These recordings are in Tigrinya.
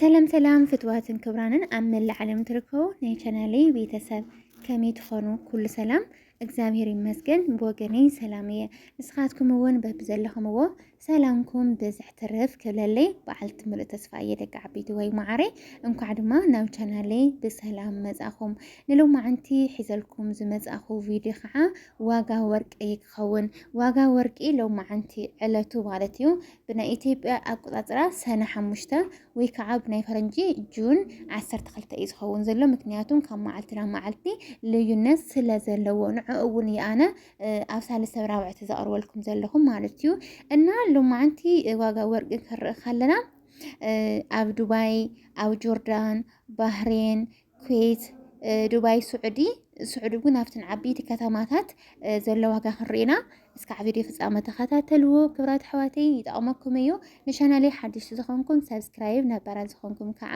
ሰላም ሰላም ፍትዋትን ክብራንን ኣብ መላእ ዓለም ትርከቡ ናይ ቻናለይ ቤተሰብ ከመይ ትኾኑ? ኩሉ ሰላም እግዚኣብሔር ይመስገን ብወገነይ ሰላም እየ። ንስኻትኩም እውን በብዘለኹምዎ ሰላምኩም ብዝሕ ትርፍ ክብለለይ በዓልቲ ምሉእ ተስፋ እየ ደቂ ዓበይቲ ወይ መዓረይ። እንኳዕ ድማ ናብ ቻናለይ ብሰላም መጻኹም። ንሎማዓንቲ ሒዘልኩም ዝመጻኹ ቪድዮ ከዓ ዋጋ ወርቂ ኸውን ዋጋ ወርቂ ሎማዓንቲ ዕለቱ ማለት እዩ ብናይ ኢትዮጵያ ኣቆፃፅራ ሰነ ሓሙሽተ ወይ ከዓ ብናይ ፈረንጂ ጁን ዓሰርተ ክልተ እዩ ዝኸውን ዘሎ ምክንያቱም ካብ መዓልቲ ናብ መዓልቲ ልዩነት ስለ ዘለዎ ንዕ እውን ይኣነ ኣብ ሳልስተ ብራብዕቲ ዘቕርበልኩም ዘለኹም ማለት እዩ እና ሎማዓንቲ ዋጋ ወርቂ ክንርኢ ከለና ኣብ ዱባይ ኣብ ጆርዳን ባህሬን ኩዌት፣ ዱባይ፣ ስዑዲ ስዑዲ እውን ኣብተን ዓበይቲ ከተማታት ዘሎ ዋጋ ክንርኢና እስካዕ ቪድዮ ፍጻመ ተኸታተልዎ ክብራት ኣሕዋተይ ይጠቕመኩም እዩ ንቻናለይ ሓድሽ ዝኾንኩም ሰብስክራይብ ነባራት ዝኾንኩም ከዓ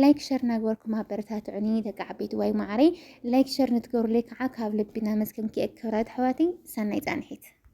ላይክ ሸር እናገበርኩም ኣበረታትዑኒ ደቂ ዓበይቲ ዋይ ማዕረይ ላይክ ሸር ንትገብሩለይ ከዓ ካብ ልቢ እናመስገንኩ እየ ክብራት ኣሕዋተይ ሰናይ ፃንሒት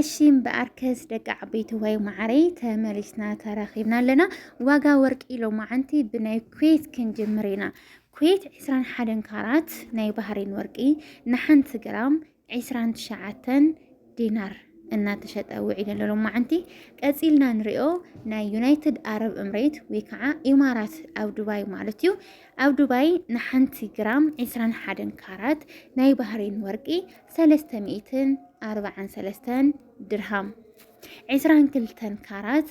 እሺም በኣርከስ ደቂ ዓበይቲ ወይ ማዕረይ ተመሊስና ተረኺብና ኣለና ዋጋ ወርቂ ሎማዓንቲ ብናይ ኩዌት ክንጅምር ኢና ኩዌት 21 ካራት ናይ ባህሬን ወርቂ ንሓንቲ ግራም ዕስራን ትሽዓተን ዲናር እናተሸጠ ውዒሉ ኣሎ ሎማዓንቲ ቀፂልና ንሪኦ ናይ ዩናይትድ ኣረብ እምሬት ወይ ከዓ ኢማራት ኣብ ዱባይ ማለት እዩ ኣብ ዱባይ ንሓንቲ ግራም ዕስራን ሓደን ካራት ናይ ባህሬን ወርቂ ሰለስተ ሚእትን ኣርባዓን ሰለስተን ድርሃም ዕስራን ክልተን ካራት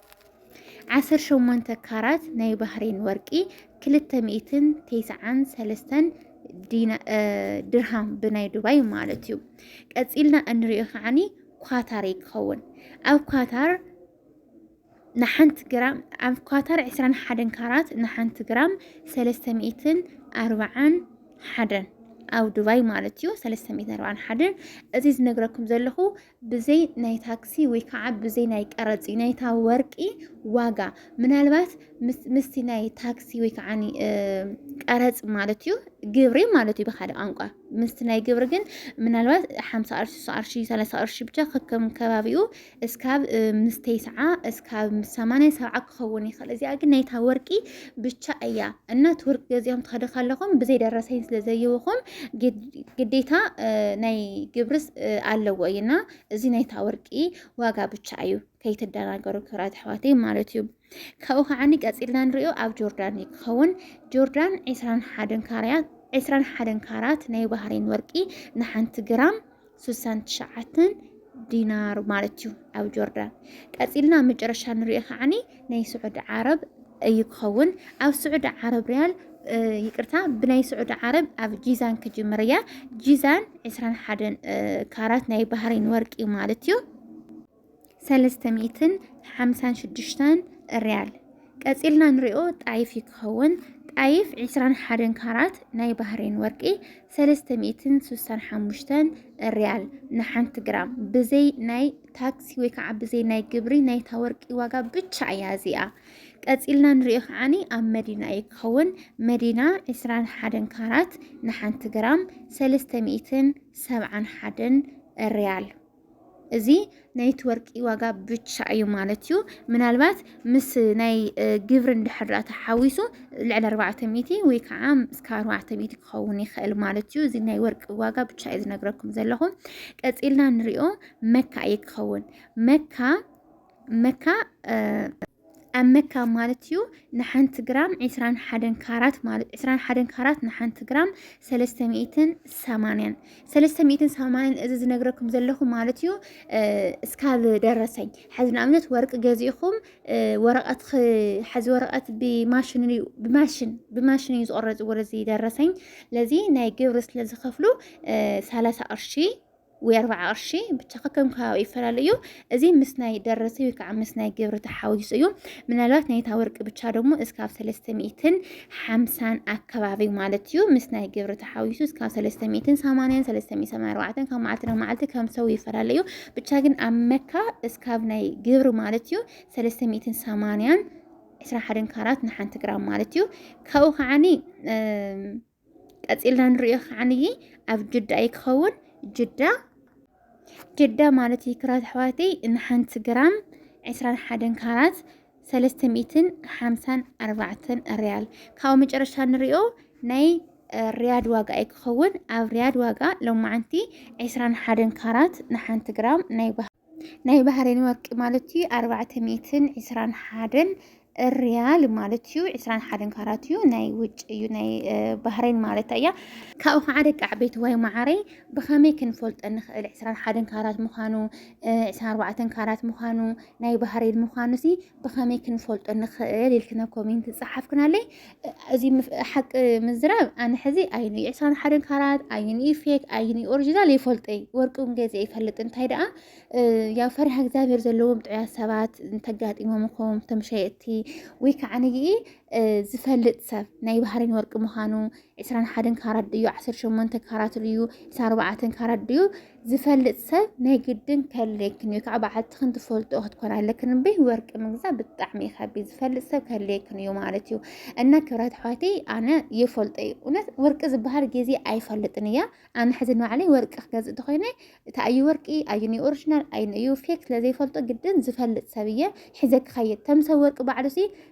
ዓሰርተ ሸሞንተ ካራት ናይ ባህሬን ወርቂ ክልተ ሚእትን ቴስዓን ሰለስተን ድርሃም ብናይ ዱባይ ማለት እዩ ቀፂልና እንሪኦ ከዓኒ ኳታር ይከውን ኣብ ኳታር ንሓንቲ ግራም ኣብ ኳታር ዕስራን ሓደን ካራት ንሓንቲ ግራም ሰለስተ ሚእትን ኣርባዓን ሓደን ኣብ ዱባይ ማለት እዩ ሰለስተ ሚእትን ኣርባዓን ሓደን እዚ ዝነግረኩም ዘለኹ ብዘይ ናይ ታክሲ ወይ ከዓ ብዘይ ናይ ቀረፂ ናይታ ወርቂ ዋጋ ምናልባት ምስቲ ናይ ታክሲ ወይ ከዓ ቀረፅ ማለት እዩ ግብሪ ማለት እዩ ብካልእ ቋንቋ ምስቲ ናይ ግብሪ ግን ምናልባት ሓምሳ ቅርሺ ስሳ ቅርሺ ሰላሳ ቅርሺ ብቻ ከከም ከባቢኡ እስካብ ምስ ተይስዓ እስካብ ምስ ሰማንያ ሰብዓ ክኸውን ይኽእል እዚኣ ግን ናይታ ወርቂ ብቻ እያ እና ትውርቅ ገዚኦም ትኸደ ከለኹም ብዘይ ደረሰኝ ስለ ዘይውኹም ግዴታ ናይ ግብርስ ኣለዎ እዩ እና እዚ ናይታ ወርቂ ዋጋ ብቻ እዩ ከይትደናገሩ ክብራት ኣሕዋተይ ማለት እዩ ካብኡ ከዓኒ ቀፂልና ንሪኦ ኣብ ጆርዳን እዩ ክኸውን ጆርዳን ዕስራን ሓደን ካርያት ዕስራን ሓደን ካራት ናይ ባህሬን ወርቂ ንሓንቲ ግራም ስሳን ትሽዓተን ዲናር ማለት እዩ ኣብ ጆርዳን ቀፂልና መጨረሻ ንሪኦ ከዓኒ ናይ ስዑዲ ዓረብ እዩ ክኸውን ኣብ ስዑዲ ዓረብ ሪያል ይቅርታ ብናይ ስዑዲ ዓረብ ኣብ ጂዛን ክጅምር እያ ጂዛን 21 ካራት ናይ ባህሬን ወርቂ ማለት እዩ ሰለስተ ሚእትን ሓምሳን ሽዱሽተን ርያል ቀጺልና ንሪኦ ጣይፍ እዩ ክኸውን ጣይፍ ዒስራን ሓደን ካራት ናይ ባህሬን ወርቂ ሰለስተ ሚእትን ስሳን ሓሙሽተን ርያል ንሓንቲ ግራም ብዘይ ናይ ታክሲ ወይ ከዓ ብዘይ ናይ ግብሪ ናይታ ወርቂ ዋጋ ብቻ እያ እዚኣ ቀጺልና ንሪኦ ከዓኒ ኣብ መዲና እዩ ክኸውን መዲና ዕስራን ሓደን ካራት ንሓንቲ ግራም ሰለስተ ሚእትን ሰብዓን ሓደን ርያል እዚ ናይቲ ወርቂ ዋጋ ብቻ እዩ ማለት እዩ። ምናልባት ምስ ናይ ግብሪ እንድሕር ተሓዊሱ ልዕሊ ኣርባዕተ ሚእቲ ወይ ከዓ እስከ ኣርባዕተ ሚእቲ ክኸውን ይኽእል ማለት እዩ። እዚ ናይ ወርቂ ዋጋ ብቻ እዩ ዝነግረኩም ዘለኹ። ቀፂልና ንሪኦ መካ እዩ ክኸውን መካ መካ ኣብ መካ ማለት እዩ ንሓንቲ ግራም 21 ካራት ማለት 21 ካራት ንሓንቲ ግራም 380 380 እዚ ዝነግረኩም ዘለኹ ማለት እዩ እስካብ ደረሰኝ ሓዚ ንኣብነት ወርቂ ገዚእኹም ወረቐት ሓዚ ወረቐት ብማሽን ብማሽን ብማሽን እዩ ዝቆረፅ ወደዚ ደረሰኝ ለዚ ናይ ግብሪ ስለ ዝኸፍሉ 30 ቅርሺ ወይ ኣርባዓ ቅርሺ ብቻ ከከም ከባቢ ይፈላለ እዩ እዚ ምስ ናይ ደረሰ ወይ ከዓ ምስ ናይ ግብሪ ተሓዊሱ እዩ ምናልባት ናይታ ወርቂ ብቻ ደግሞ እስካብ ሰለስተ ሚእትን ሓምሳን ኣከባቢ ማለት እዩ ምስ ናይ ግብሪ ተሓዊሱ እስካብ ሰለስተ ሚእትን ሰማንያን ሰለስተ ሚእትን ሰማንያ ኣርባዕተን ካብ መዓልቲ ናብ መዓልቲ ከም ሰው ይፈላለ እዩ ብቻ ግን ኣብ መካ እስካብ ናይ ግብሪ ማለት እዩ ሰለስተ ሚእትን ሰማንያን ዕስራ ሓደን ካራት ንሓንቲ ግራም ማለት እዩ ካብኡ ከዓኒ ቀፂልና ንሪኦ ከዓንይ ኣብ ጅዳ እዩ ክኸውን ጅዳ ጅዳ ማለት እዩ ክራት ኣሕዋተይ ንሓንቲ ግራም ዕስራን ሓደን ካራት ሰለስተ ሚእትን ሓምሳን ኣርባዕተን ሪያል ካብኡ መጨረሻ ንሪኦ ናይ ሪያድ ዋጋ እዩ ክኸውን ኣብ ሪያድ ዋጋ ሎማዓንቲ ዕስራን ሓደን ካራት ንሓንቲ ግራም ናይ ናይ ባህሬን ወርቂ ማለት እዩ ኣርባዕተ ሚእትን ዕስራን ሓደን ርያል ማለት እዩ ዕስራን ሓደን ካራት እዩ ናይ ውጭ እዩ ናይ ባህሬን ማለት እያ ካብኡ ከዓ ደቂ ዓበይቲ ወይ ማዓረይ ብኸመይ ክንፈልጦ ንኽእል ዕስራን ሓደን ካራት ምዃኑ ዕስራን ኣርባዕተን ካራት ምዃኑ ናይ ባህሬን ምዃኑ ሲ ብኸመይ ክንፈልጦ ንኽእል ኢልክነ ኮሜንት ፀሓፍክናለይ እዚ ሓቂ ምዝራብ ኣነ ሕዚ ኣይኑ ዕሳን ሓደን ካራት ኣይኑ ፌክ ኣይኑ ኦሪጂናል ይፈልጠይ ወርቂ እውን ገዜ ይፈልጥ እንታይ ደኣ ያው ፈሪሃ እግዚኣብሔር ዘለዎም ጥዑያ ሰባት እንተጋጢሞም ኹም እቶም ሸየጥቲ ወይ ከዓ ንይኢ ዝፈልጥ ሰብ ናይ ባህሪን ወርቂ ምዃኑ ዕስራን ሓደን ካራት ድዩ ዓሰርተ ሸሞንተ ካራት ድዩ ዕስራን ኣርባዕተን ካራት ድዩ ዝፈልጥ ሰብ ናይ ግድን ከለይክን እዩ ከዓ በዓልትኽን ትፈልጦ ክትኮን ኣለክን እምበይ ወርቂ ምግዛእ ብጣዕሚ እዩ ከቢድ ዝፈልጥ ሰብ ከለይክን እዩ ማለት እዩ እና ክብረት ኣሕዋተይ ኣነ ይፈልጦ እዩ እውነት ወርቂ ዝበሃል ግዜ ኣይፈልጥን እያ ኣነ ሕዚ ንባዕለይ ወርቂ ክገዝእ እንተኮይነ እቲ ኣዩ ወርቂ ኣዩ ናይ ኦሪጂናል ኣዩ እዩ ፌክ ስለዘይፈልጦ ግድን ዝፈልጥ ሰብ እየ ሕዘ ክኸይድ ተምሰብ ወርቂ ባዕሉ ሲ